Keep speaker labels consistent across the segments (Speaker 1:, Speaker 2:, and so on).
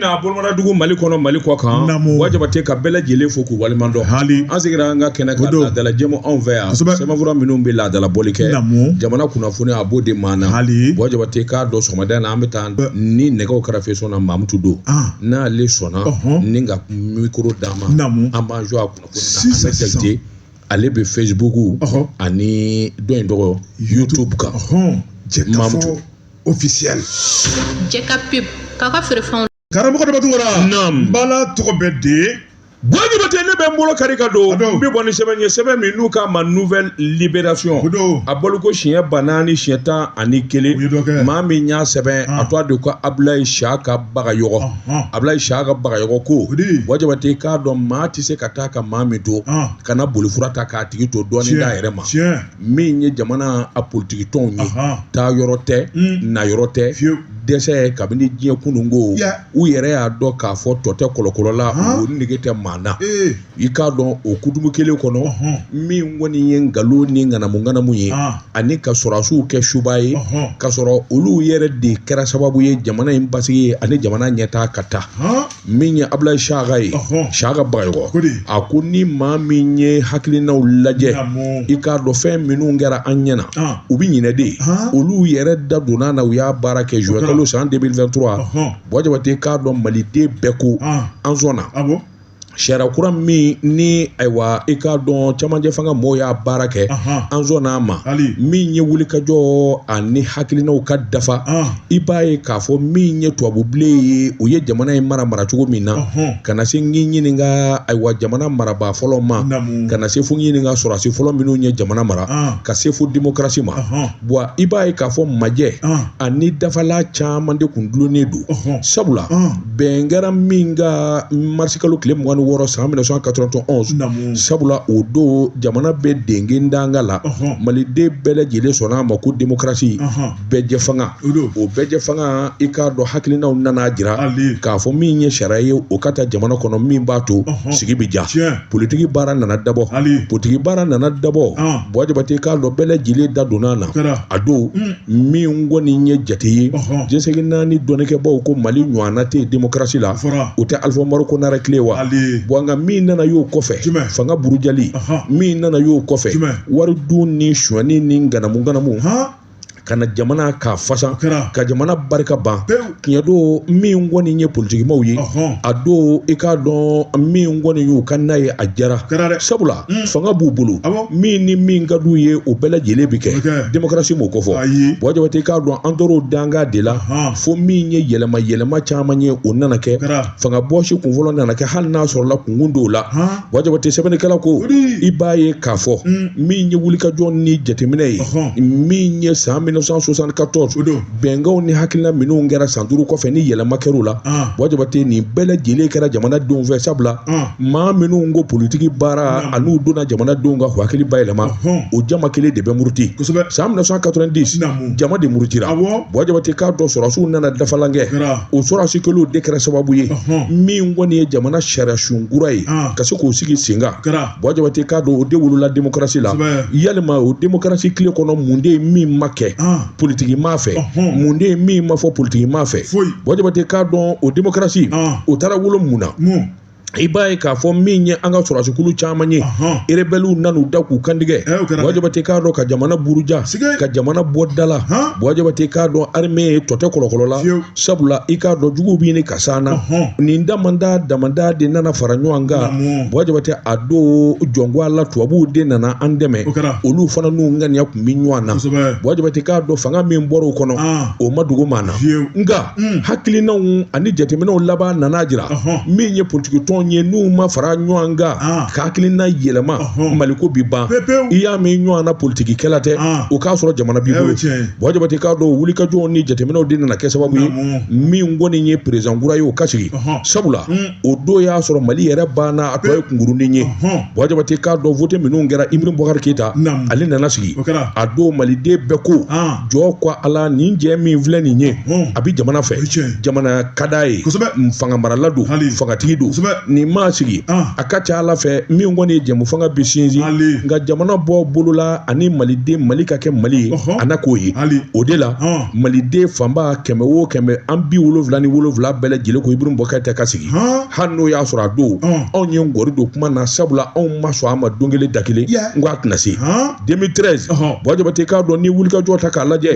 Speaker 1: n'a bolomaradugu mali kɔnɔ mali kɔ kan bɔ jabate ka bɛɛ lajɛlen fo k'u waleɲumandɔn an sigira an ka kɛnɛ kan laadalajɛmu anw fɛ yan sɛbɛnfura minnu bɛ laadala bɔli kɛ jamana kunnafoni a b'o de maana bɔ jabate k'a dɔn sɔgɔmada in na an bɛ taa ni nɛgɛw kɛrɛfɛ sɔn na mamutu don n'ale sɔnna ni ka mikoro d'a ma an b'an jɔ a kunnafoni na jakite ale bɛ Facebook ani dɔ in tɔgɔ YouTube kan mamutu
Speaker 2: officiel
Speaker 3: jɛka pub k'a ka feerefɛnw karamɔgɔ Danba
Speaker 2: Tunkara bala tɔgɔ bɛ de Bɔ Jabate ne
Speaker 1: bɛ n bolo kari ka don n bɛ bɔ ni sɛbɛn ye sɛbɛn min n'u k'a ma nouvelle libération a bɔliko siɲɛ ba naani siɲɛ tan ani kelen maa min y'a sɛbɛn a tɔgɔ de ko Abulayi Siyaka Bagayɔgɔ Abulayi Siyaka Bagayɔgɔ ko Bɔ Jabate k'a dɔn maa tɛ se ka taa ka maa min to kana bolifura ta k'a tigi to dɔɔni d'a yɛrɛ ma. min ye jamana a politikitɔnw ye taa yɔrɔ tɛ na yɔrɔ tɛ dɛsɛ kabini diɲɛ kunun ko u yɛrɛ y'a dɔn k'a fɔ tɔ tɛ kɔlɔkɔlɔla o nege tɛ maa na i k'a dɔn o kutubu kelen kɔnɔ min kɔni ye nkalon ni ŋanamuŋanamu ye ani ka sɔrɔdasiw kɛ subaa ye ka sɔrɔ olu yɛrɛ de kɛra sababu ye jamana in basigi ye ani jamana ɲɛtaa ka taa min ye abulayi saka ye saka bagayɔgɔ a ko ni maa min ye hakilinaw lajɛ i k'a dɔn fɛn minnu kɛra an ɲɛna u bɛ ɲinɛ de olu yɛrɛ da donna na u y'a baara kɛ zuwɛnkalo san 2023 bɔ jabate k'a dɔn maliden bɛɛ ko an sɔnna sariya kura min ni ayiwa i k'a dɔn cɛmancɛ fanga mɔgɔw y'a baara kɛ an sɔnna a ma min ye wulikajɔ ani hakilinaw ka dafa i b'a ye k'a fɔ min ye tubabubilen ye u ye jamana in mara mara cogo min na ka na se ɲininka ayiwa jamana marabaa fɔlɔ ma ka na se fo ɲininka sɔrɔdasi fɔlɔ minnu ye jamana mara ka se fo demokarasi ma wa i b'a ye k'a fɔ majɛ ani dafala caman de kun dulonnen don sabula bɛn kɛra min kan marisikalo tile mugan ni wɔɔrɔ san 1991 sabula o don jamana bɛ dengedanga la maliden bɛɛ lajɛlen sɔnna a ma ko demokarasi bɛɛjɛ fanga o bɛɛjɛ fanga i k'a dɔn hakilinaw nana jira k'a fɔ min ye sariya ye o ka ta jamana kɔnɔ min b'a to sigi bɛ ja politiki baara nana dabɔ politiki baara nana dabɔ bɔ jabate k'a dɔn bɛɛ lajɛlen da donna na a don min kɔni ye jate ye diɲɛ seleke naani dɔnnikɛbaw ko mali ɲɔgɔnna tɛ demokarasi la o tɛ alifa umaru konare tile wa bon nka min nana y'o kɔfɛ fanga burujali min nana y'o kɔfɛ wari dun ni sonyani ni ŋanamuŋanamu ka na jamana ka fasa ka jamana barika ban tiɲɛ don min kɔni ye politikimaw ye a don i k'a dɔn min kɔni y'u ka n'a ye a jara sabula hmm. fanga b'u bolo min ni min ka d'u ye o bɛɛ lajɛlen bɛ kɛ demokarasi m'o ko fɔ buwa jabate k'a dɔn an tor'o danga de la fo min ye yɛlɛma yɛlɛma caman ye o nana kɛ fanga bɔsi kunfɔlɔ nana kɛ hali n'a sɔrɔla kunkun dɔw la buwa jabate sɛbɛnnikɛla ko i b'a ye k'a fɔ mm. min ye wulikajɔ ni jateminɛ ye min ye san 1974 bɛnkanw ni hakilina minnu kɛra san duuru kɔfɛ ni yɛlɛma kɛr'u la ah. buwa jabate nin bɛɛ lajɛlen kɛra jamanadenw fɛ sabula ah. maa minnu ko politiki baara an'u donna jamanadenw ka hakili bayɛlɛma o jama kelen de bɛ muruti san 1990 jama de murutira buwa jabate k'a dɔn sɔrɔdasiw nana dafalan kɛ o sɔrɔdasi kelenw de kɛra sababu ye min kɔni ye jamana sariya sun kura ye ka se k'o sigi sen kan buwa jabate k'a dɔn o de wolola demokarasi la yalima o demokarasi tile kɔnɔ mun de ye min ma kɛ politiki maa fɛ mun de ye min ma fɔ politiki maa fɛ buwa jabate k'a dɔn o demokarasi o taara wolo mun na i b'a ye k'a fɔ min ye an ka sɔrɔdasikulu caman ye erebɛliw nan'u da k'u kantigɛ buwa jabate k'a dɔn ka jamana buruja ka jamana bɔ da la buwa jabate k'a dɔn arime ye tɔ tɛ kɔlɔkɔlɔ la sabula i k'a dɔn juguw bɛ ɲini ka s'an na nin damanda damanda de nana fara ɲɔgɔn kan buwa jabate a don jɔngoya la tubabuw de nana an dɛmɛ olu fana n'u ŋaniya tun bɛ ɲɔgɔn na buwa jabate k'a dɔn fanga min bɔra o kɔnɔ o ma dogo maa na nka Mm. hakilinaw ani jateminɛw laban nan'a jira min ye politikitɔn ye n'u ma fara ɲɔgɔn kan ah. ka hakilina yɛlɛma maliko bi ban i y'a mɛn ɲɔgɔn na politikikɛla tɛ ah. o k'a sɔrɔ jamana b'i bolo buwa jabate k'a dɔn wulikajɔw ni jateminɛw de nana kɛ sababu ye min kɔni ye perezidan kura ye o ka sigi sabula mm. o don y'a sɔrɔ mali yɛrɛ banna a tɔ ye kunkurunin ye buwa jabate k'a dɔn vote minnu kɛra ibrahim bubakari keyita ale nana sigi a don maliden bɛɛ ko ah. jɔ ko ala nin cɛ min filɛ nin ye a bɛ jamana fɛ jamana ka d'a ye fanga marala don fangatigi don nin maa sigi ah. a ka ca a la fɛn min kɔni ye jɛmufanga bi sinsin nka jamana bɔ bolo la ani maliden mali ka kɛ mali ye a na k'o ye o de la ah. maliden fanba kɛmɛ o kɛmɛ an bi wolonwula ni wolonwula bɛɛ lajɛlen ko ibrahim bubakari keyita ka sigi ah. hali n'o y'a sɔrɔ a don anw ye ngɔri don kuma na sabula anw ma sɔn a ma don kelen da kelen n ko a tɛna se 2013 buwa jabate k'a dɔn ni wulikajɔ ta k'a lajɛ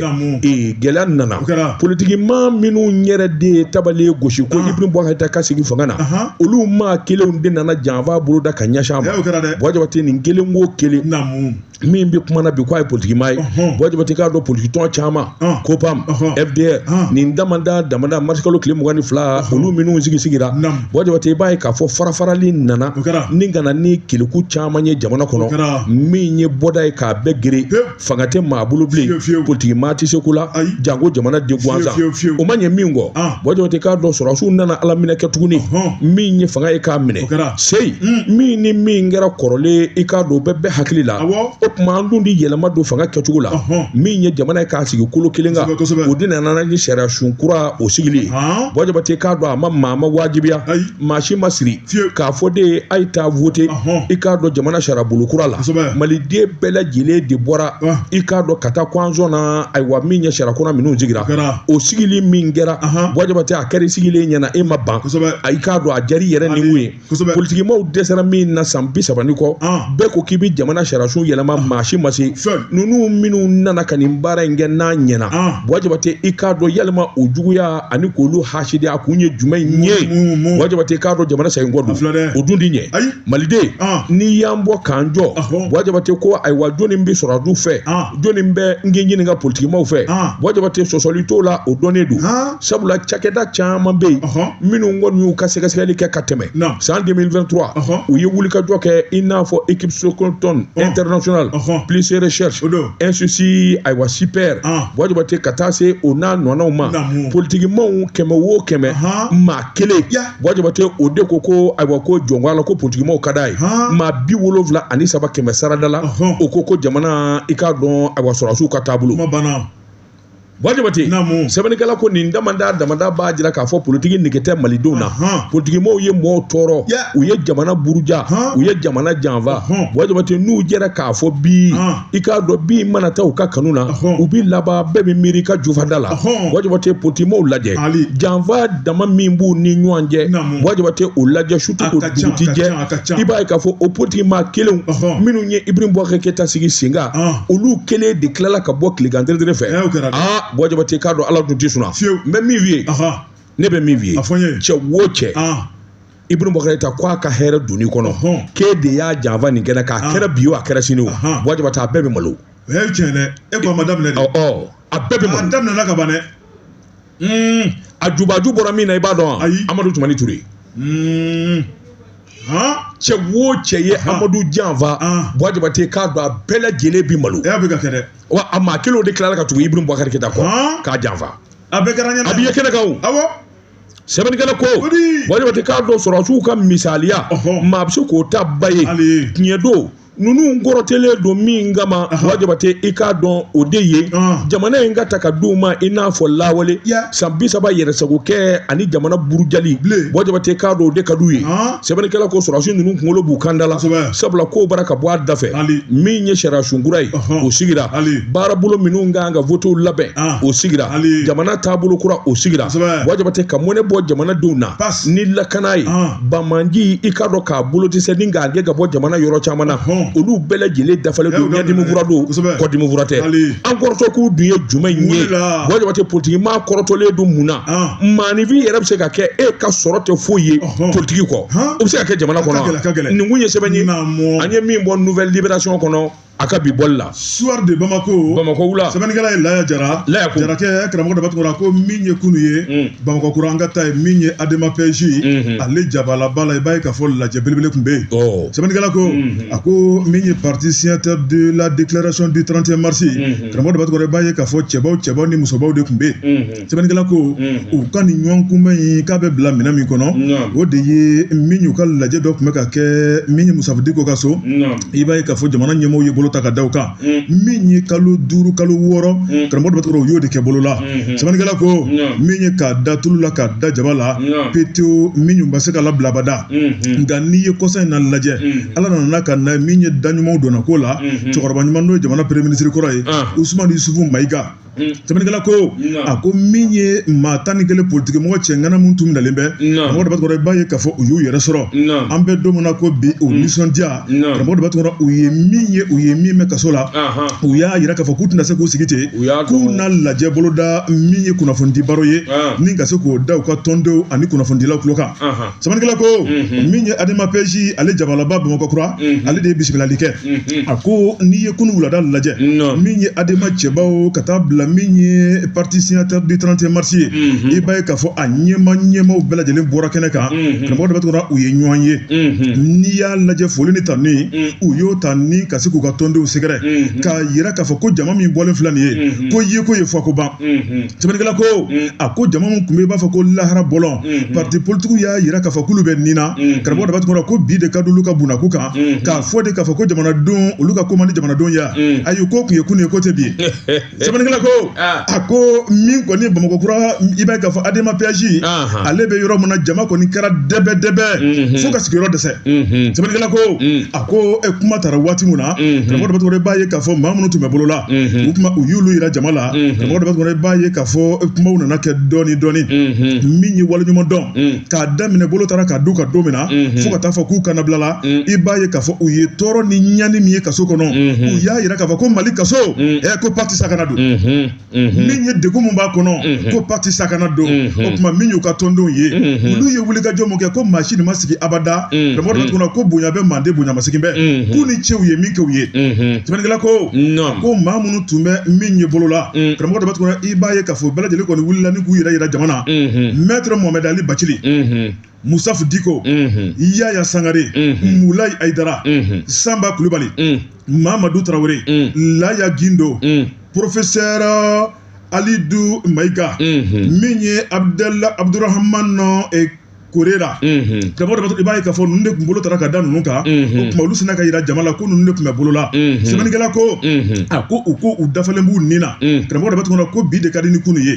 Speaker 1: gɛlɛya nana politiki maa minnu yɛrɛ de ye tabali gosi ko ibrahim bubakari keyita ka sigi fanga na olu maa kelenw de nana janfa bolo da ka ɲɛsin a ma buwa jabate nin kelen ko kelen min bɛ kuma na bi k'a ye politiki maa ye buwa jabate k'a dɔn politiki tɔn caman kopam fdr nin damada damada marisikalo tile mugan ni fila olu minnu sigi sigira buwa jabate i b'a ye k'a fɔ farafarali nana ni kana ni keleku caman ye jamana kɔnɔ min ye bɔda ye k'a bɛɛ geren fanga tɛ maa bolo bilen politiki maa tɛ se ko la janko jamanaden gansan o ma ɲɛ min kɔ buwa jabate k'a dɔn sɔrɔsiw nana a laminɛ kɛ tuguni min ye fanga ye k'a minɛ seyi hmm. min ni min kɛra kɔrɔlen i k'a dɔn bɛ bɛɛ hakili la o tuma an dun ti yɛlɛma don fanga kɛcogo la min ye jamana ye k'a sigi kolo kelen kan o de nana ni sariya sun kura o sigili buwa jabate k'a dɔn a ma maa ma wajibiya maa si ma siri k'a fɔ de ye a ye taa vote i k'a dɔn jamana sariyabolo kura la maliden bɛɛ lajɛlen de bɔra i k'a dɔn ka taa ko an sɔnna ayiwa min ye sariya kura minnu sigira o sigili min kɛra buwa jabate a kɛra sigilen ɲɛna e ma ban a y'i k'a dɔn a jari yɛrɛ ni mun ye politikimaw dɛsɛra min na san bi saba ni kɔ bɛɛ ko k'i bɛ jamana sariya sun yɛlɛma maa si ma se ninnu minnu nana ka nin baara in kɛ n'a ɲɛna buwa jabate i k'a dɔn yalima o juguya ani k'olu hasidi a kun ye jumɛn ye buwa jabate k'a dɔn jamana segin kɔ don o dun ti ɲɛ maliden n'i y'an bɔ k'an jɔ buwa jabate ko ayiwa jɔnni bɛ sɔrɔdasiw fɛ jɔnni bɛ n k'i ɲininka politikimaw fɛ buwa jabate sɔsɔli t'o la o dɔnnen don sabula cakɛda caman bɛ yen minnu kɔni y'u ka sɛgɛsɛgɛli kɛ ka tɛmɛ san 2023 u ye wulikajɔ kɛ i n'a fɔ équipe stockholm international peace research institute ayiwa sipri buwa jabate ka taa se o n'a ɲɔgɔnnaw ma politikimaw kɛmɛ wo kɛmɛ maa kelen buwa jabate o de ko ko ayiwa ko jɔnko la ko politikimaw ka d'a ye maa bi wolonwula ani saba kɛmɛ sarada la o ko ko jamana i k'a dɔn ayiwa sɔrɔdasiw ka taabolo. Buwa jabate sɛbɛnnikɛla ko nin damada damada b'a jira k'a fɔ politiki nege tɛ malidenw na politikimaw ye mɔgɔw tɔɔrɔ u ye jamana buruja u ye jamana janfa buwa jabate n'u jɛra k'a fɔ bi i k'a dɔn bi mana taa u ka kanu na u bɛ laban bɛɛ bɛ miiri ka jufada la buwa jabate politikimaw lajɛ janfa dama min b'u ni ɲɔgɔn cɛ buwa jabate u lajɛ surtout dugu ti jɛ a ka ca i b'a ye k'a fɔ o politiki maa kelenw minnu ye ibrahim bubakari keyita sigi sen kan olu kelen de tilala ka bɔ tilegan teretere fɛ aa buwa jabate k'a dɔn ala dun tɛ sunaa n bɛ min f'i ye ne bɛ min f'i ye cɛ wo cɛ ibrahim bubakari keyita ko a ka hɛrɛ donni kɔnɔ k'e de y'a janfa nin kɛnɛ kan a kɛra bi o a kɛra sini o buwa jabate a bɛɛ bɛ malo o ye tiɲɛ dɛ
Speaker 2: e ko a ma daminɛ de a bɛɛ bɛ malo a
Speaker 1: daminɛna ka ban dɛ
Speaker 2: hmm, a
Speaker 1: jubaju bɔra min na i b'a dɔn wa amadu tumani ture hmm. cɛ wo cɛ ye amadu janfa buwa jabate k'a dɔn a bɛɛ lajɛlen bi malo wa
Speaker 2: a maa kelenw
Speaker 1: de tilala ka tugu ibrahim bubakari keyita kɔ k'a janfa a bɛɛ kɛra an ɲɛna a
Speaker 2: bi ye kɛnɛ kan
Speaker 1: o sɛbɛnnikɛla ko buwa jabate k'a dɔn sɔrɔsiw ka misaliya maa bɛ se k'o ta ba ye tiɲɛ don ninnu kɔrɔtɔlen don min kama buwa jabate i k'a dɔn o de ye jamana in ka ta ka d'u ma i n'a fɔ lawale san bi saba yɛrɛsagokɛ ani jamana burujali buwa jabate i k'a dɔn o de ka d'u ye sɛbɛnnikɛla ko sɔrɔsi ninnu kunkolo b'u kanda la sabula ko bara ka bɔ a dafɛ min ye sariyasun kura ye o sigira baarabolo minnu ka kan ka votew labɛn o sigira jamana taabolo kura o sigira buwa jabate ka mɔnɛ bɔ jamanadenw na ni lakana ye banbaanci i k'a dɔn k'a bolo dɛsɛ ni k'a gɛn ka bɔ jamana yɔrɔ caman na olu bɛɛ lajɛlen dafalen don ɲɛdimi fura don kɔdimi fura tɛ an kɔrɔtɔkun dun ye jumɛn ye buwa jabate politiki maa kɔrɔtɔlen don mun na maanifin yɛrɛ bɛ se ka kɛ e ka sɔrɔ tɛ foyi ye politiki kɔ o bɛ se ka kɛ jamana kɔnɔ nin kun ye sɛbɛn ye an ye min bɔ nouvelle libération kɔnɔ a ka bi bɔli la soir de
Speaker 2: bamako bamako wula sɛbɛnnikɛla
Speaker 1: ye laya
Speaker 2: jara laya ko jarakɛ karamɔgɔ daba tunkara a ko min ye kunu ye mm. bamakɔ kura an ka taa yen min ye adema pɛji mm-hmm. ale jabalaba la i b'a ye k'a fɔ lajɛ belebele tun bɛ yen oh. sɛbɛnnikɛla ko mm-hmm. a ko min ye parti signataire de la déclaration du 31 mars mm-hmm. karamɔgɔ daba tunkara i b'a ye k'a fɔ cɛbaw cɛbaw ni musobaw de tun bɛ yen sɛbɛnnikɛla ko u ka nin ɲɔgɔn kunbɛn in k'a bɛ bila minɛn min kɔnɔ o de ye min y'u ka lajɛ dɔ tun bɛ ka kɛ min ye musitafa diko ka so i b'a ye k'a fɔ jamana ɲɛmɔgɔw ye bolo ta ka d'u kan min ye kalo duuru kalo wɔɔrɔ karamɔgɔ daba u y'o de kɛ bolo la sɛbɛnnikɛla ko min ye k'a da tulu la k'a da jaba la petewo min bɛ se ka labila abada nka n'i ye kɔsa in na lajɛ ala nana ka na min ye da ɲumanw donna ko la cɛkɔrɔba ɲuman n'o ye jamana premier ministre kɔrɔ ye usumani yusufu mayiga sɛbɛnnikɛla ko a ko min ye maa tan ni kelen politiki mɔgɔ cɛ ŋana minnu tun minɛlen bɛ karamɔgɔ daba tunkara i b'a ye k'a fɔ u y'u yɛrɛ sɔrɔ an bɛ don min na ko bi u nisɔndiya karamɔgɔ daba tunkara u ye min ye u ye min mɛn kaso la u y'a yira k'a fɔ k'u tɛna se k'u sigi ten k'u na lajɛ boloda min ye kunnafonidi baro ye ni ka se k'o da u ka tɔndenw ani kunnafonidilaw tulo kan sɛbɛnnikɛla ko min ye adema pɛji ale jabalaba bamakɔkura ale de ye bisimilali kɛ a ko n'i ye kunun wulada lajɛ min ye adema cɛbaw ka taa bila min ye parti signataire du 31 mars ye i b'a ye k'a fɔ a ɲɛmaa ɲɛmaaw bɛɛ lajɛlen bɔra kɛnɛ kan karamɔgɔ daba tunkara u ye ɲɔgɔn ye n'i y'a lajɛ foli ni tanuni u y'o ta ni ka se k'u ka tɔndenw sɛgɛrɛ k'a yira k'a fɔ ko jama min bɔlen filɛ nin ye ko yeko ye fɔko ban sɛbɛnnikɛla ko a ko jama min tun bɛ i b'a fɔ ko lahara bɔlɔn parti politigiw y'a yira k'a fɔ k'olu bɛ ni na karamɔgɔ daba tunkara ko bi de ka d'olu ka bunako kan k'a fɔ de k'a fɔ ko jamanadenw olu ka ko man di jamanadenw ye ayi ko tun ye kunun ye ko tɛ bi ye sɛbɛnnikɛla ko a ko min kɔni bamakɔ kura i b'a ye k'a fɔ adema pɛji ale bɛ yɔrɔ min na jama kɔni kɛra dɛbɛ dɛbɛ fo ka sigiyɔrɔ dɛsɛ sɛbɛnnikɛla ko a ko e kuma taara waati min na karamɔgɔ daba tunkara i b'a ye k'a fɔ maa minnu tun bɛ bolo la u kuma u y'olu yira jama la karamɔgɔ daba tunkara i b'a ye k'a fɔ kumaw nana kɛ dɔɔni dɔɔni min ye waleɲuman dɔn k'a daminɛ bolo taara ka d'u kan don min na fo ka taa fɔ k'u ka nabila la i b'a ye k'a fɔ u ye tɔɔrɔ ni ɲani min ye kaso kɔnɔ u y'a yira k'a fɔ ko mali kaso ɛ ko pati sakana don min ye degun min b'a kɔnɔ ko pati sakana don o tuma min y'u ka tɔndenw ye olu ye wulikajɔ min kɛ ko maa si nin ma sigi abada karamɔgɔ daba tunkara ko bonya bɛ manden bonyamasegin bɛ k'u ni ce u ye min kɛ u ye sɛbɛnnikɛla ko ko maa minnu tun bɛ min ye bolo la karamɔgɔ daba tunkara i b'a ye k'a fɔ bɛɛ lajɛlen kɔni wulila ni k'u yɛrɛ yira jama na mɛtɛrɛ mɔmɛdi ali bacili musitafa diko yaya sangare mulayi ayidara sanba kulubali mamadu tarawele laya gindo porofesɛrɛ alidu mayiga min ye abudurahamani eh, korera karamɔgɔ daba tunkara i b'a ye k'a fɔ ninnu de tun bolo taara ka da ninnu kan o tuma olu sinna ka yira jama la ko ninnu de tun bɛ bolo la sɛbɛnnikɛla ko a ko u ko u dafalen b'u ni na karamɔgɔ daba tunkara ko bi de ka di ni kunu ye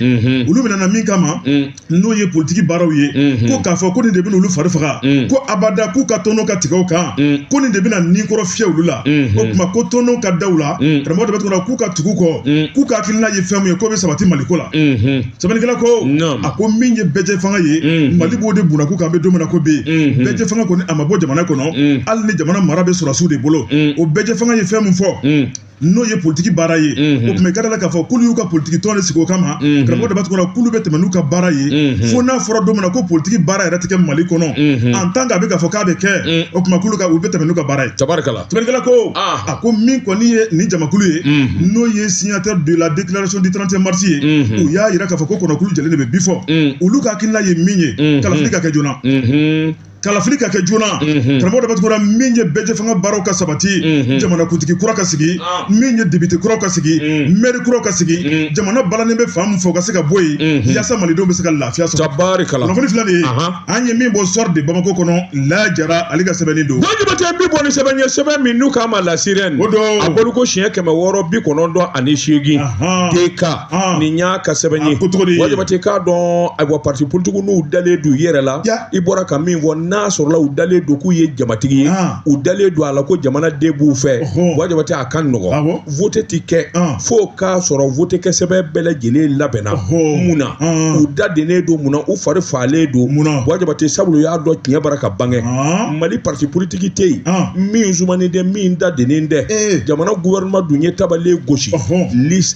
Speaker 2: olu minɛna min kama n'o ye politiki baaraw ye ko k'a fɔ ko nin de bɛna olu fari faga ko abada k'u ka tɔnɔ ka tigɛ o kan ko nin de bɛna ni kɔrɔ fiyɛ olu la o tuma ko tɔnɔ ka da u la karamɔgɔ daba tunkara k'u ka tugu kɔ k'u ka hakilina ye fɛn min ye k'o bɛ sabati mali ko la sɛbɛnnikɛla ko a ko min ye bɛɛjɛ fanga ye mali b'o de bunakun kan bɛ don min na ko bi bɛɛjɛ fanga kɔni a ma bɔ jamana kɔnɔ hali ni jamana mara bɛ sɔrɔsiw de bolo o bɛɛjɛ fanga ye fɛn min fɔ n'o ye politigi baara ye o tuma i ka da la k'a fɔ k'olu y'u ka politigi tɔn de sigi o kama karamɔgɔ daba tunkara k'olu bɛ tɛmɛ n'u ka baara ye fo n'a fɔra don min na ko politigi baara yɛrɛ tɛ kɛ mali kɔnɔ en tant qu'a bɛ k'a fɔ k'a bɛ kɛ o tuma k'olu bɛ tɛmɛ n'u ka baara ye tabarikala sɛbɛnnikɛla ko a ko min kɔni ye nin jamakulu ye n'o ye signataire de la déclaration du 31 mars ye u y'a yira k'a fɔ ko kɔnɔkulu jɛlen de bɛ bii fɔ olu ka hakilina ye min ye kalafili ka kɛ joona kalafili ka kɛ joona karamɔgɔ daba tunkara min ye bɛɛjɛ fanga baaraw ka sabati jamanakuntigi kura ka sigi min ye depite kura ka sigi mɛri kura ka sigi jamana balanen bɛ fan min fɛ o ka se ka bɔ yen yaasa malidenw bɛ se ka lafiya sɔrɔ tabarikala kunnafoni filɛ nin ye an ye min bɔ soir de bamako kɔnɔ lajara ale ka sɛbɛnni don wa jabate bi bɔ ni sɛbɛn
Speaker 1: ye sɛbɛn min n'u k'a ma la sirène a bɔliko siɲɛ kɛmɛ wɔɔrɔ bi kɔnɔntɔn ani seegin deka Ah. nin y'a ka sɛbɛn ye ah, wa jabate k'a dɔn ayiwa parti politigiw n'u dalen don u yɛrɛ la i bɔra ka min fɔ n'a sɔrɔla u dalen don k'u ye jamatigi ye ah. u dalen don a la ko jamana den b'u fɛ wa jabate a ka nɔgɔn vote ti kɛ fo k'a sɔrɔ vote kɛ sɛbɛn bɛɛ lajɛlen labɛnna mun na u da dennen don mun na u fari faalen don mun na wa jabate sabula u y'a dɔn tiɲɛ bara ka bange mali parti politigi tɛ yen min sumanen tɛ min da dennen tɛ eh. jamana gouvernement dun ye tabali gosi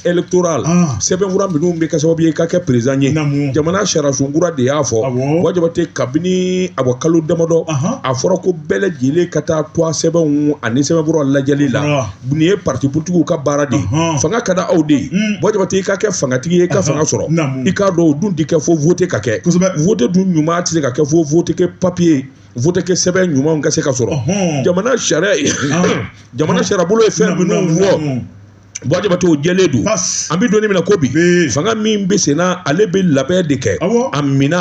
Speaker 1: electoral ah. sɛbɛnfura minnu bɛ kɛ sababu ye ka kɛ perezidan ye jamana sariyasun kura de y'a fɔ Buwa Jabate kabini a bɔ kalo damadɔ a fɔra ko bɛɛ lajɛlen ka taa tɔgɔ sɛbɛnw ani sɛbɛnfura lajɛli la ah. nin ye parti politigiw ka baara de fanga ka da aw de ye hmm. Buwa Jabate i ka kɛ fangatigi ye i ka fanga sɔrɔ i k'a dɔn o dun tɛ kɛ fo vote ka kɛ vote dun ɲuman tɛ se ka kɛ fo vote kɛ papiye vote kɛ sɛbɛn ɲumanw ka se ka sɔrɔ jamana sariya jamana sariyabolo ye fɛn minnu fɔ Buwa Jabate o jɛlen don an bɛ don min na ko bi fanga min bɛ senna ale bɛ labɛn de kɛ a minɛn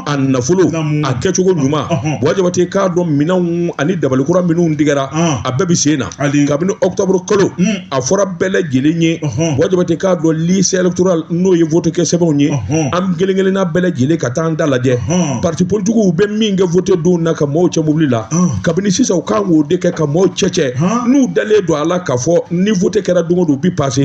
Speaker 1: a nafolo a kɛcogo ɲuman Buwa Jabate k'a dɔn minɛnw ani dabalikura minnu tigɛra a bɛɛ bɛ sen na kabini octobre kalo a fɔra bɛɛ lajɛlen ye Buwa Jabate k'a dɔn liste électoral n'o ye vote kɛ sɛbɛnw ye an kelen kelenna bɛɛ lajɛlen ka taa an ta lajɛ partis politiques bɛ min kɛ vote don na ka mɔɔw cɛ mobili la. kabini sisan u kan k'o de kɛ ka mɔɔw cɛ cɛ n'u dalen don a la k'a fɔ ni vote kɛra don o don u bi pase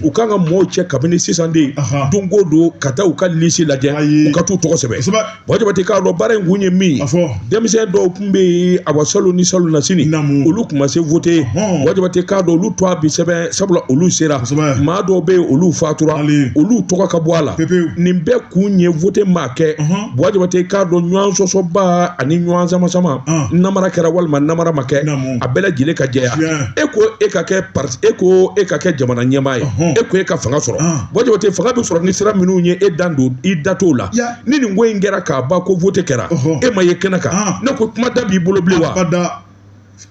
Speaker 1: u kan ka mɔɔw cɛ kabini sisan de don o don ka taa u ka lisi lajɛ u ka t'u tɔgɔ sɛbɛn Buwa Jabate k'a dɔn baara in kun ye min ye denmisɛn dɔw tun bɛ yen awa salon ni salonnasini olu tun ma se vote Buwa Jabate k'a dɔn olu tɔgɔ bi sɛbɛn sabula olu sera maa dɔw bɛ yen olu fatura olu tɔgɔ ka bɔ a la nin bɛɛ kun ye vote maa kɛ. Buwa Jabate k'a dɔn ɲɔgɔn sɔsɔba ani ɲɔgɔn sama sama ah. namara kɛra walima namara ma kɛ a bɛɛ lajɛlen ka jɛya e ko e ka kɛ parti e ko e ka kɛ jamana ɲɛmaa ye e ko e ka fanga sɔrɔ ah. Buwa Jabate fanga bɛ sɔrɔ ni sira minnu ye e dan don i da t'o la ni nin ko in kɛra ka ban ko vote kɛra e ma ye kɛnɛ kan ah. ne ko kuma da b'i bolo bilen wa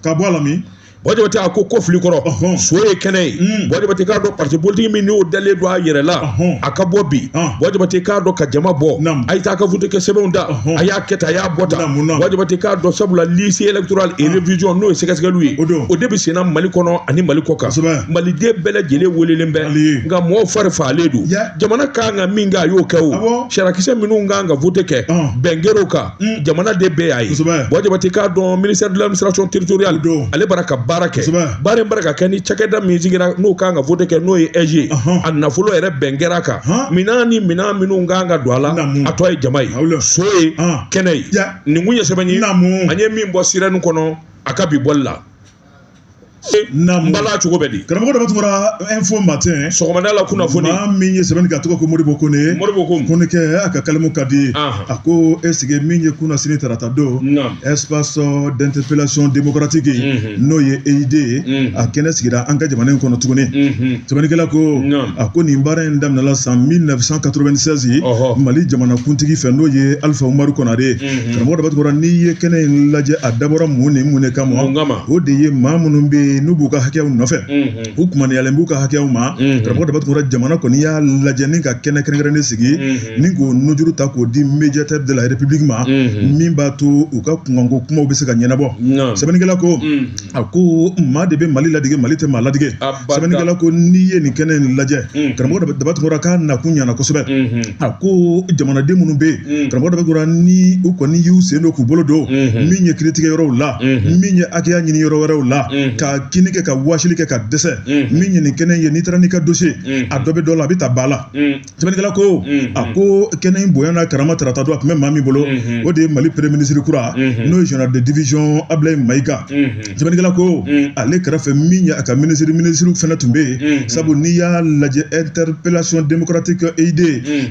Speaker 1: ka
Speaker 2: bɔ a la min Buwa Jabate a ko
Speaker 1: ko fili kɔrɔ so ye kɛnɛ ye mm. Buwa Jabate k'a dɔn parti politiki min n'o dalen don a yɛrɛ la a ka bɔ bi Buwa Jabate k'a dɔn ka jama bɔ a ye taa ka vote kɛ sɛbɛnw ta a y'a kɛ tan a y'a bɔ tan Buwa Jabate k'a dɔn sabula liste electoral et revision n'o ye sɛgɛsɛgɛliw ye o de bɛ senna mali kɔnɔ ani mali kɔkan maliden bɛɛ lajɛlen welelen bɛ nka mɔgɔw fari fagalen don jamana kan ka min kɛ a y'o kɛ o sarakisɛ minnu kan ka vote kɛ bɛn kɛr'o kan Mm. jamana de bɛɛ y'a ye Buwa Jabate k'a dɔn ministère de l'administration territoriale ale bara ka baara kɛ baara in bara ka kɛ ni cakɛda min sigira n'o kan ka vote kɛ n'o ye AIGE a nafolo yɛrɛ bɛn kɛr'a kan minan ni minan minnu kan ka don a la a tɔ ye jama ye so ye kɛnɛ ye nin kun ye sɛbɛn ye an ye min bɔ sirɛni kɔnɔ a ka bi bɔli la Mbala cogo bɛ di karamɔgɔ dɔ tun
Speaker 2: bɔra info matin sɔgɔmada la
Speaker 1: kunnafoni maa min ye sɛbɛnni kɛ
Speaker 2: a tɔgɔ ko Modibo Kone Konekɛ a ka kalimu ka di a ko e sigi min ye kunasini tarata don espace d'interpellation démocratique n'o ye EID ye a kɛnɛ sigira an ka jamana in kɔnɔ tuguni sɛbɛnnikɛla ko a ko nin baara in daminɛla san 1996 Mali jamanakuntigi fɛ n'o ye Alifa Umaru Konare karamɔgɔ daba tunkara n'i ye kɛnɛ in lajɛ a dabɔra mun ni mun de kama o de ye maa minnu bɛ yen n'u b'u ka hakɛyaw nɔfɛ u kumaniyalen b'u ka hakɛyaw ma karamɔgɔ daba tunkara jamana kɔni y'a lajɛ ni ka kɛnɛ kɛrɛnkɛrɛnnen sigi ni k'o nujuru ta k'o di médiateur de la république ma min b'a to u ka kunkanko kumaw bɛ se ka ɲɛnabɔ sɛbɛnnikɛla ko a ko maa de bɛ mali ladege mali tɛ maa ladege sɛbɛnnikɛla ko n'i ye nin kɛnɛ in lajɛ karamɔgɔ daba tunkara k'a nakun ɲana kosɛbɛ a ko jamanaden minnu bɛ yen karamɔgɔ daba tunkara ni u kɔni y'u sen don k'u bolo don min ye kiritigɛ yɔrɔw la min ye hakɛya ɲini yɔrɔ wɛrɛw la ka kini kɛ ka waasili kɛ ka dɛsɛ min ye nin kɛnɛ ye n'i taara n'i ka dossier a dɔ bɛ dɔ la a bɛ ta ba la Sɛbɛnnikɛla ko a ko kɛnɛ in bonya n'a karama tarata don a tun bɛ maa min bolo o de ye mali premier ministre kura n'o ye général de division Ablaye Maïga sɛbɛnnikɛla ko ale kɛrɛfɛ min ye a ka minisiri minisiriw fana tun bɛ yen sabu n'i y'a lajɛ interpellation démocratique EID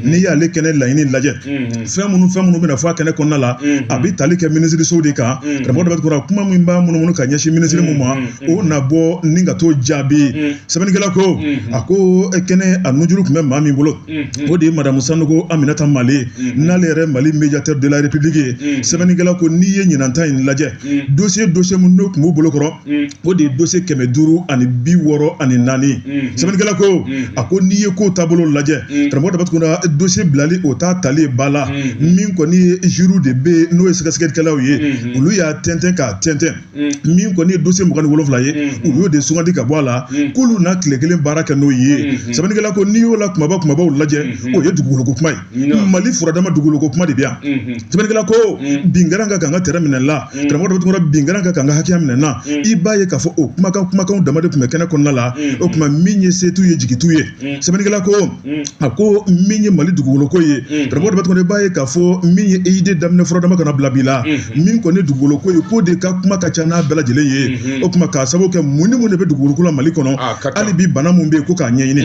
Speaker 2: n'i y'ale kɛnɛ laɲini lajɛ fɛn minnu fɛn minnu bɛna fɔ a kɛnɛ kɔnɔna la a bɛ tali kɛ minisiririso de kan karamɔgɔ daba tunkara kuma min b'a munumunu ka ɲɛsin minisiri min ma o na bɔ ni ka t'o jaabi sɛbɛnnikɛla ko a ko kɛnɛ a nujuru tun bɛ maa min bolo o de ye madamu sanɔgɔ aminata male n'ale yɛrɛ mali médiateur de la république ye sɛbɛnnikɛla ko n'i ye ɲinan ta in lajɛ dossier dossier minnu n'o tun b'u bolo kɔrɔ o de ye dossier kɛmɛ duuru ani bi wɔɔrɔ ani naani sɛbɛnnikɛla ko a ko n'i ye ko taabolo lajɛ karamɔgɔ daba tunkara dossier bilali o t'a tali ba la min kɔni ye jury de bɛ n'o ye sɛgɛsɛgɛlikɛlaw ye olu y'a tɛntɛn k'a tɛntɛn Mm. min kɔni ye dossier mugan ni wolonwula ye mm-hmm. u y'o de sugandi ka bɔ a la mm. k'olu na tile kelen baara kɛ n'o ye mm-hmm. sɛbɛnnikɛla ko n'i y'o la kumaba kumabaw lajɛ mm-hmm. o ye dugukoloko kuma ye mali furadama dugukoloko kuma de bɛ yan sɛbɛnnikɛla ko mm. bin kɛra n kan ka n ka tɛrɛn minɛ n na karamɔgɔ daba tunkara bin kɛra n kan ka n ka hakɛya minɛ n na i b'a ye k'a fɔ o kumakan kumakanw dama de tun bɛ kɛnɛ kɔnɔna la o tuma min ye setu ye jigitu ye sɛbɛnnikɛla ko a ko min ye mali dugukolo ko ye karamɔgɔ daba tunkara i b'a ye k'a fɔ min ye EID daminɛ furadama ka n'a bila bi la min kɔni dugukolo ko ye k'o de ka kuma ka ca n'a bɛɛ lajɛlen ye o tuma k'a sababu kɛ mun ni mun de bɛ dugukolo ko la mali kɔnɔ hali bi bana mun bɛ yen ko k'a ɲɛɲini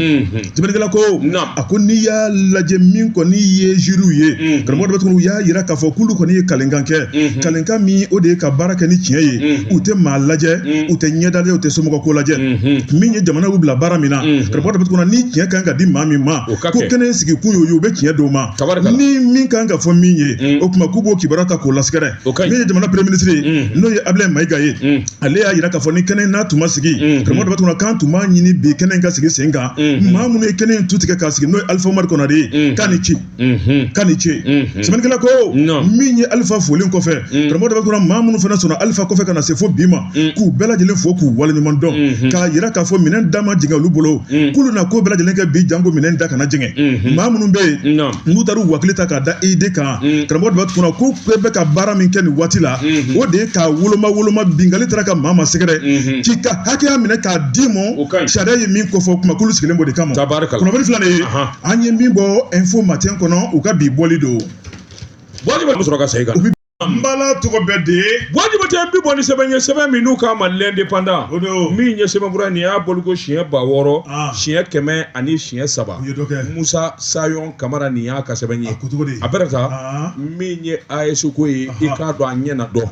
Speaker 2: sɛbɛnnikɛla ko a ko n'i y'a lajɛ min kɔni ye jury ye karamɔgɔ daba tunkara u y'a yira k'a fɔ k'olu kɔni ye kalenkan kɛ kalenkan min o de ye ka baara kɛ ni tiɲɛ ye u tɛ maa lajɛ u tɛ ɲɛda lajɛ u tɛ somɔgɔ ko lajɛ min ye jamana y'u bila baara min na karamɔgɔ daba tunkara ni tiɲɛ kan ka di maa min ma ko kɛnɛ in sigi kun y'o ye u bɛ tiɲɛ d'o ma ni min kan ka fɔ min ye o tuma k'u b'o kibaruya ta k'o lasɛgɛrɛ min ye jamana premier ministre ye n'o ye Ablaye Maïga ye ale y'a yira k'a fɔ ni kɛnɛ n'a tun ma sigi karamɔgɔ k'an tun b'a ɲini bi kɛnɛ in ka sigi sen kan maa minnu ye kɛnɛ in tu tigɛ ka sigi n'o ye alifa umaru konare ye k'a ni ce k'a ni ce sɛbɛnnikɛla ko min ye alifa folen kɔfɛ karamɔgɔ dɔ bɛ kunna maa minnu fana sɔnna alifa kɔfɛ ka na se fo bi ma k'u bɛɛ lajɛlen fo k'u waleɲuman dɔn k'a yira k'a fɔ minɛn da ma jɛngɛ olu bolo k'olu na ko bɛɛ lajɛlen kɛ bi janko minɛn da kana jɛngɛ maa minnu bɛ yen n'u taara u hakili ta k'a da ide kan karamɔgɔ dɔ bɛ kunna ko bɛɛ bɛ ka baara min kɛ nin waati la o de ye k'a woloma woloma binkali taara ka maa ma sɛgɛrɛ k'i ka hakɛya minɛ k'a d'i ma sariya ye min kofɔ kuma k'olu sigilen b'o de kama kunnafoni filanan ye an ye min bɔ info matin kɔnɔ u ka bi bɔli don
Speaker 1: wajibi bɛ sɔrɔ ka segin kan n bala tɔgɔ bɛ
Speaker 2: de buwa jabate bi bɔ
Speaker 1: ni sɛbɛn ye sɛbɛn min n'u k'a ma l'indépendant o don min ye sɛbɛnfura nin y'a bɔliko siɲɛ ba wɔɔrɔ Ah. siɲɛ kɛmɛ ani siɲɛ saba u ye dɔ kɛ musa sayɔn kamara nin y'a ka sɛbɛn ye a ko cogo di a bɛrɛ ta Ah. min ye ayɛsi ko ye i k'a dɔn a ɲɛ na dɔn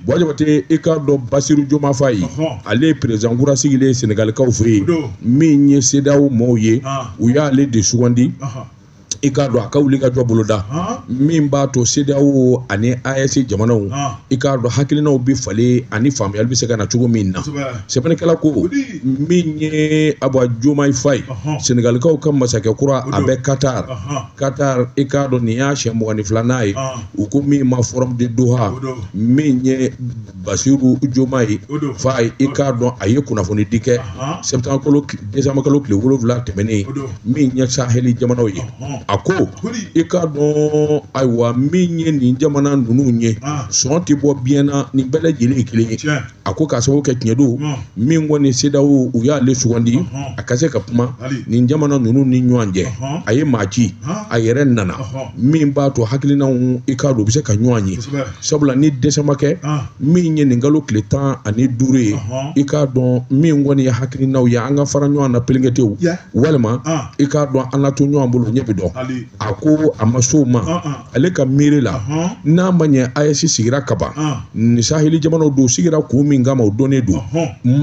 Speaker 1: buwa jabate i k'a dɔn basiru jomayi fayi ale ye perezidan kura sigilen ye senegalikaw fɛ yen min ye sedaw maaw ye u y'ale de sugandi i k'a dɔn a ka wuli ka jɔ boloda min b'a to sedaw ani ayɛsi jamanaw i k'a dɔn hakilinaw bɛ falen ani faamuyali bɛ se ka na cogo min na sɛbɛnnikɛla ko min ye a ba jomayi fayi senegalikaw ka masakɛ kura a bɛ katar katar i k'a dɔn nin y'a siɲɛ mugan ni filanan ye ah. u ko min ma forum de doha min ye basiru jomayi fayi i k'a dɔn a ye kunnafoni di kɛ septembre décembre kalo tile wolonwula tɛmɛnen min ye saheli jamanaw ye a ko i k'a dɔn ayiwa min ye nin jamana ninnu ye ah. sɔn tɛ bɔ biɲɛ na nin bɛɛ lajɛlen ye kelen ye a ko k'a sababu kɛ tiɲɛ don min kɔni sedaw u y'ale sugandi a ka se ka kuma nin jamana ninnu ni ɲɔgɔn cɛ a ye maa ci a yɛrɛ nana min b'a to hakilinaw i k'a dɔn u bɛ se ka ɲɔgɔn ye sabula ni décembre kɛ min ye nin kalo tile tan ani duuru ye i k'a dɔn min kɔni ye hakilinaw ye an ka fara ɲɔgɔn na pelenketew walima i k'a dɔn an ka to ɲɔgɔn bolo ɲɛ bɛ dɔn a ko a ma s'o ma ale ka miiri la n'a ma ɲɛ ayɛsi sigira kaban ni saheli jamanaw don sigira kun min kama o dɔnnen don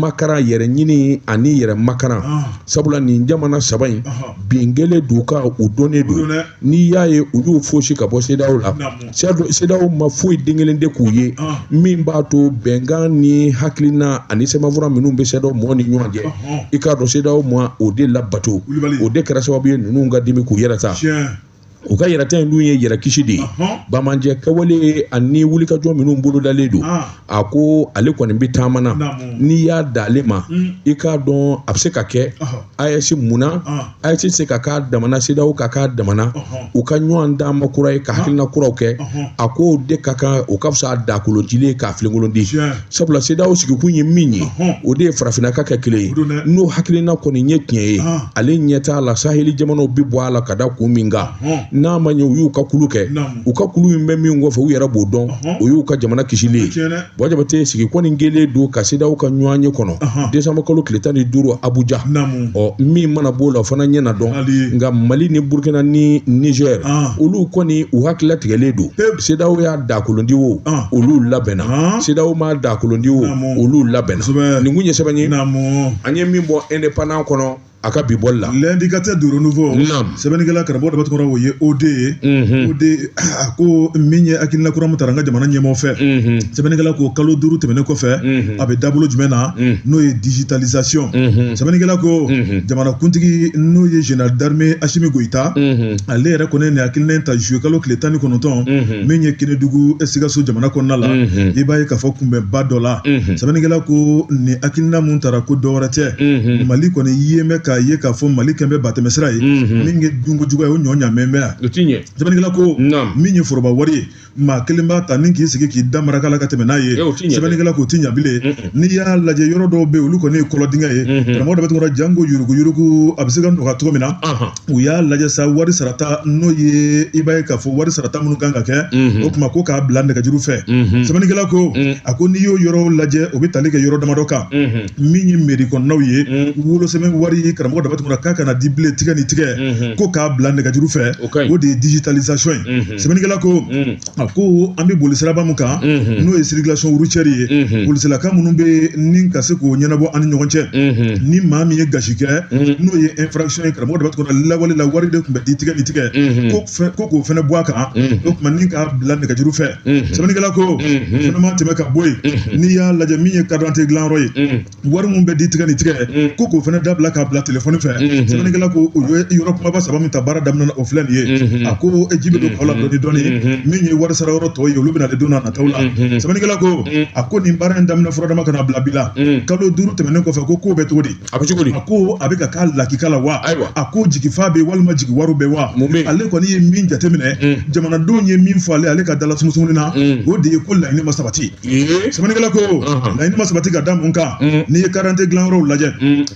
Speaker 1: makaran yɛrɛ ɲini ani yɛrɛ makaran sabula nin jamana saba in bin kelen don ka o dɔnnen don n'i y'a ye u y'u fosi ka bɔ sedaw la sedaw ma foyi den kelen de k'u ye min b'a to bɛnkan ni hakilina ani sɛbɛnfura minnu bɛ sedaw mɔgɔ ni ɲɔgɔn cɛ i k'a dɔn sedaw ma o de labato o de kɛra sababu ye ninnu ka dimi k'u yɛrɛ ta u ka yɛrɛta in dun ye yɛrɛ kisi de ye bamajɛ kɛwale ani wulikajɔ minnu bolodalen don ah. a ko ale kɔni bɛ taama na n'i y'a da ale ma hmm. i k'a dɔn a bɛ se ka kɛ ayɛsi munna ah. ayɛsi tɛ se ka k'a damana sedaw ka k'a damana u ka ɲɔgɔn d'a ma kura ye ka ah. hakilina kuraw kɛ a k'o de ka kan o ka fisa dakoloncilen ye ka filenkolon ci sabula CEDEAO sigikun ye min ye o de ye farafinna ka kɛ kelen ye n'o hakilina kɔni ye tiɲɛ ye ale ɲɛ t'a la saheli jamanaw bɛ bɔ a la ka da kun min kan n'a ma ɲɛ u y'u ka kulu kɛ u ka kulu in bɛ min kɔfɛ u yɛrɛ b'o dɔn o y'u ka jamana kisili ye bɔ jabate sigi kɔni kɛlen don ka CEDEAO ka ɲɔgɔnye kɔnɔ desanburukalo tile tan ni duuru abuja ɔ min mana b'o la o fana ɲɛ na dɔn nka mali ni burukina ni nizɛri olu kɔni u hakili latigɛlen don CEDEAO y'a dakolondi wo olu labɛnna CEDEAO m'a dakolondi wo olu labɛnna nin kun ye sɛbɛn ye an ye min bɔ indépendant kɔnɔ a ka bi bɔli la l'indicateur du renouveau
Speaker 2: sɛbɛnnikɛla karamɔgɔ daba tunkara o ye OD ye OD a ko min ye hakilina kura min tara an ka jamana ɲɛmaa fɛ sɛbɛnnikɛla ko kalo duuru tɛmɛnen kɔfɛ a bɛ dabolo jumɛn na n'o ye digitalisation sɛbɛnnikɛla ko jamana kuntigi n'o ye général d'armée Asimi Goyita ale yɛrɛ kɔni ye nin hakilina in ta zuye kalo tile tan ni kɔnɔntɔn mhm. min ye kenedugu ye sikaso jamana kɔnɔna la mhm. i b'a ye k'a fɔ kunbɛnba dɔ la mhm. sɛbɛnnikɛla ko nin hakilina mun tara ko dɔwɛrɛ tɛ mali kɔni ye mɛn k'a ye k'a fɔ mali kɛmɛ bɛ batɛmɛsira ye min ye dunko jugu ye o ɲɔ ɲamɛn bɛ yan sɛbɛnnikɛla ko min ye foroba wari ye maa kelen b'a ta ni k'i sigi k'i da maraka la ka tɛmɛ n'a ye sɛbɛnnikɛla k'o ti ɲa bilen n'i y'a lajɛ yɔrɔ dɔw bɛ olu kɔni ye kɔlɔndingɛ ye karamɔgɔ daba tunkara janko yuruguyurugu a bɛ se ka dɔgɔya cogo min na u y'a lajɛ sa wari sarata n'o ye i b'a ye k'a fɔ wari sarata minnu kan ka kɛ o tuma ko k'a bila nɛgɛjuru fɛ sɛbɛnnikɛla ko a ko n'i y'o yɔrɔ lajɛ o bɛ tali kɛ yɔrɔ damadɔ kan min ye mɛri kɔnɔnaw ye mm. wolosɛbɛn wari karamɔgɔ daba tunkara k'a kana di bilen tigɛ ni tigɛ mm-hmm. ko k'a bila nɛgɛjuru fɛ o de ye digitalisation ye mm-hmm. sɛbɛnnikɛla ko mm. a ko an bɛ boli siraba min kan mm-hmm. n'o ye circulation routière ye polisilakaw minnu bɛ ni ka se k'o ɲɛnabɔ an ni ɲɔgɔn cɛ ni maa min ye gasi kɛ n'o ye infraction ye karamɔgɔ daba tunkara lawale la wari de tun bɛ di tigɛ ni tigɛ ko ko k'o fɛnɛ bɔ a kan o tuma ni k'a bila nɛgɛjuru fɛ sɛbɛnnikɛla ko fɛnɛ ma tɛmɛ ka bɔ yen n'i y'a lajɛ min ye karidante dilanyɔrɔ ye wari min bɛ di tigɛ ni tigɛ ko k'o fɛnɛ dabila k'a bila telefɔni fɛ sɛbɛnnikɛla ko o ye yɔrɔ kunbaba saba min ta baara daminɛna o filɛ nin ye a ko e ji bɛ don kɔ la dɔɔni dɔɔni min ye wari sara yɔrɔ tɔ ye olu bɛna de don na nataw la sɛbɛnnikɛla ko a ko nin baara in daminɛ fura dama ka n'a bila bi la kalo duuru tɛmɛnen kɔfɛ ko k'o bɛ cogo di a bɛ cogo di a ko a bɛ ka k'a lakika la wa ayiwa a ko jigifa bɛ walima jigiwaaro bɛ wa mun bɛ ale kɔni ye min jateminɛ mm. jamanadenw ye min fɔ ale ale ka dala sumusumuni na mm. o de ye ko laɲini ma sabati sɛbɛnnikɛla ko uh-huh. laɲini ma sabati ka da mun kan mm. n'i ye karidante dilanyɔrɔw lajɛ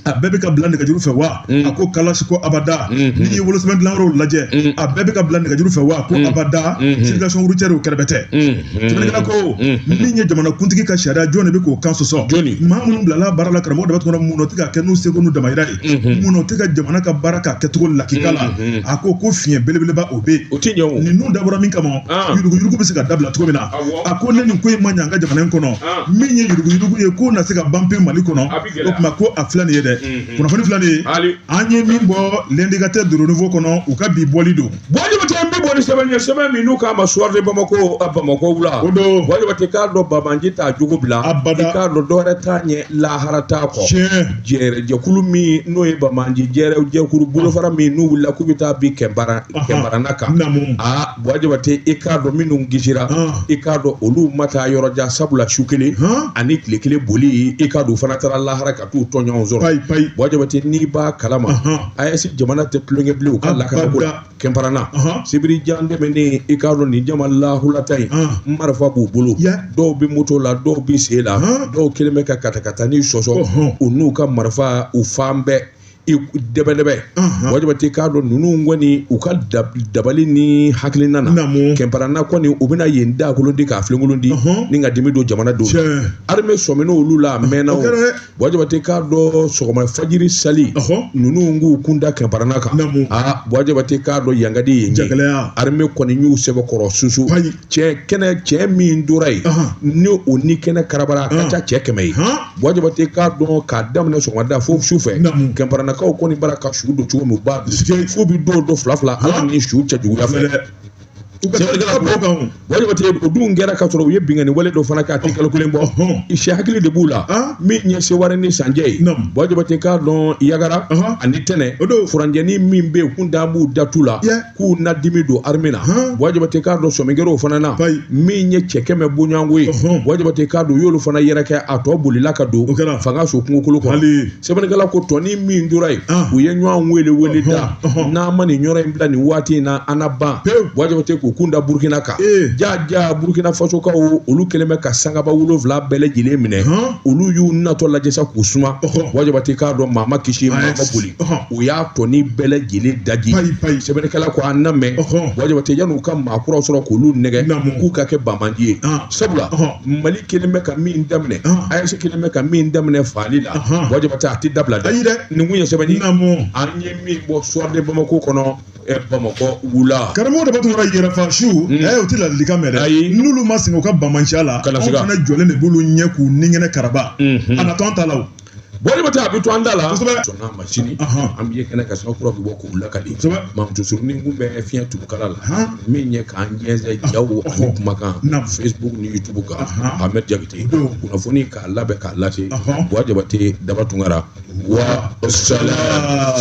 Speaker 2: a bɛɛ bɛ ka bila nɛgɛjuru fɛ wa a ko kalasi ko abada mm-hmm. n'i ye wolosɛbɛn dilanyɔrɔw lajɛ a bɛɛ bɛ ka bila nɛgɛjuru fɛ wa ko mm-hmm. abada mm-hmm. circulation routière o kɛrɛbɛtɛ sɛbɛnnikɛla ko min ye jamanakuntigi ka sariya jɔn de bɛ k'o kan sɔsɔ maa minnu bilala baara la karamɔgɔ Daba Tunkara minnu tɛ ka kɛ n'u seko n'u damayira ye minnu tɛ ka jamana ka baara k'a kɛcogo lakika la a ko ko fiɲɛ belebeleba o bɛ yen ninnu dabɔra min kama yuruguyurugu bɛ se ka dabila cogo min na a ko ni nin ko in ma ɲɛ an ka jamana in kɔnɔ min ye yuruguyurugu ye k'o na se ka ban pewu mali kɔnɔ o tuma ko a filɛ nin ye dɛ kunnafoni filɛ nin ye an ye min bɔ l'indicateur du renouveau kɔnɔ u ka bi bɔli don Buwa Jabate an bɛ bɔ
Speaker 1: ni sɛbɛn ye sɛbɛn min n'u k'a ma soir de Bamako bamakɔ wula Buwa Jabate
Speaker 2: k'a dɔn
Speaker 1: banbaanci t'a jogo bila abada i k'a dɔn dɔwɛrɛ
Speaker 2: t'a
Speaker 1: ɲɛ lahara t'a kɔ jɛkulu min n'o ye banbaanci jɛkulu bolofara min n'u wulila k'u bɛ taa bin kɛnparana kan aa Buwa Jabate i k'a dɔn minnu kisira i k'a dɔn olu ma taa yɔrɔjan sabula su kelen ani tile kelen boli i k'a dɔn fana taara lahara ka t'u tɔɲɔgɔnw sɔrɔ payi payi Buwa Jabate n'i b'a kalama AES jamana tɛ tulonkɛ bilen u ka lakana ko la kɛnparana sibiri jan tɛmɛnen i k'a dɔn nin jama lahulata in marifa b'u bolo dɔw bɛ moto la dɔw bɛ sen la dɔw kɛlen bɛ ka katakatani sɔsɔ u n'u ka marifa u fan bɛɛ dɛbɛdɛbɛ Buwa Jabate k'a dɔn ninnu kɔni u ka dabali ni hakilina na kɛnparana kɔni u bɛna yen dakolon ti k'a filenkolon ti ni ka dimi don jamana don armée sɔminna olu la a mɛnna Buwa Jabate k'a dɔn sɔgɔma fajiri sali ninnu k'u kun da kɛnparana kan aa Buwa Jabate k'a dɔn yankadi yen armée kɔni y'u sɛbɛkɔrɔ susu cɛ kɛnɛ cɛ min tora yen ni u ni kɛnɛ karabara a ka ca cɛ kɛmɛ ye Buwa Jabate k'a dɔn k'a daminɛ sɔgɔmada fo su fɛ kɛnparanakaw kɔni bara ka su don cogo min ba fo bi don don fila fila ala ni su cɛjuguya fɛ Buwa Jabate o dun kɛra k'a sɔrɔ u ye binkanni wale dɔ fana k'a tɛ kalo kelen bɔ i si hakili de b'u la min ye sewari ni san cɛ ye Buwa Jabate k'a dɔn yagara ani tɛnɛ furancɛni min bɛ yen kun da b'u datu la k'u na dimi don armée la Buwa Jabate k'a dɔn sɔmikɛr'o fana na min ye cɛ kɛmɛ bɔɲɔgɔnko ye Buwa Jabate k'a dɔn u y'olu fana yɛrɛkɛ a tɔ bolila ka don fangaso kungokolo kɔnɔ sɛbɛnnikɛla ko tɔni min tora yen u ye ɲɔgɔn wele wele da n'an ma nin yɔrɔ in bila nin waati in na an na ban Buwa Jabate k'u kun da Burkina kan ja ja Burkina fasokaw olu kɛlen bɛ ka sankaba wolonwula bɛɛ lajɛlen minɛ olu y'u natɔ lajɛ sa k'u suma Buwa Jabate k'a dɔn maa ma kisi maa ma boli u y'a tɔni bɛɛ lajɛlen daji sɛbɛnnikɛla ko a na mɛn Buwa Jabate yan'u ka maa kuraw sɔrɔ k'olu nɛgɛ k'u ka kɛ banbaanci ye sabula mali kɛlen bɛ ka min daminɛ AES kɛlen bɛ ka min daminɛ faali la Buwa Jabate a tɛ dabila dɛ nin tun ye sɛbɛn ye an ye min bɔ soir de Bamako kɔnɔ bamakɔ wula karamɔgɔ Daba Tunkara
Speaker 2: yɛrɛfasu ɛ o tɛ ladilikan mɛn dɛ ayi n'olu ma sɛgɛn u ka banbaanciya la anw fana jɔlen de b'olu ɲɛ k'u ni kɛnɛ karaba a na tɔn ta la buwa jabate a bɛ
Speaker 1: to an da la sɔnna a ma sini an bɛ ye kɛnɛ kan sɔrɔ kura bɛ bɔ k'u lakali mamutu surunin tun bɛ fiɲɛ tugu kala la min ye k'an jɛnsɛn jaw ani kumakan facebook ni youtube kan ahmed jakite kunnafoni k'a labɛn k'a lase buwa jabate daba tunkara wa salam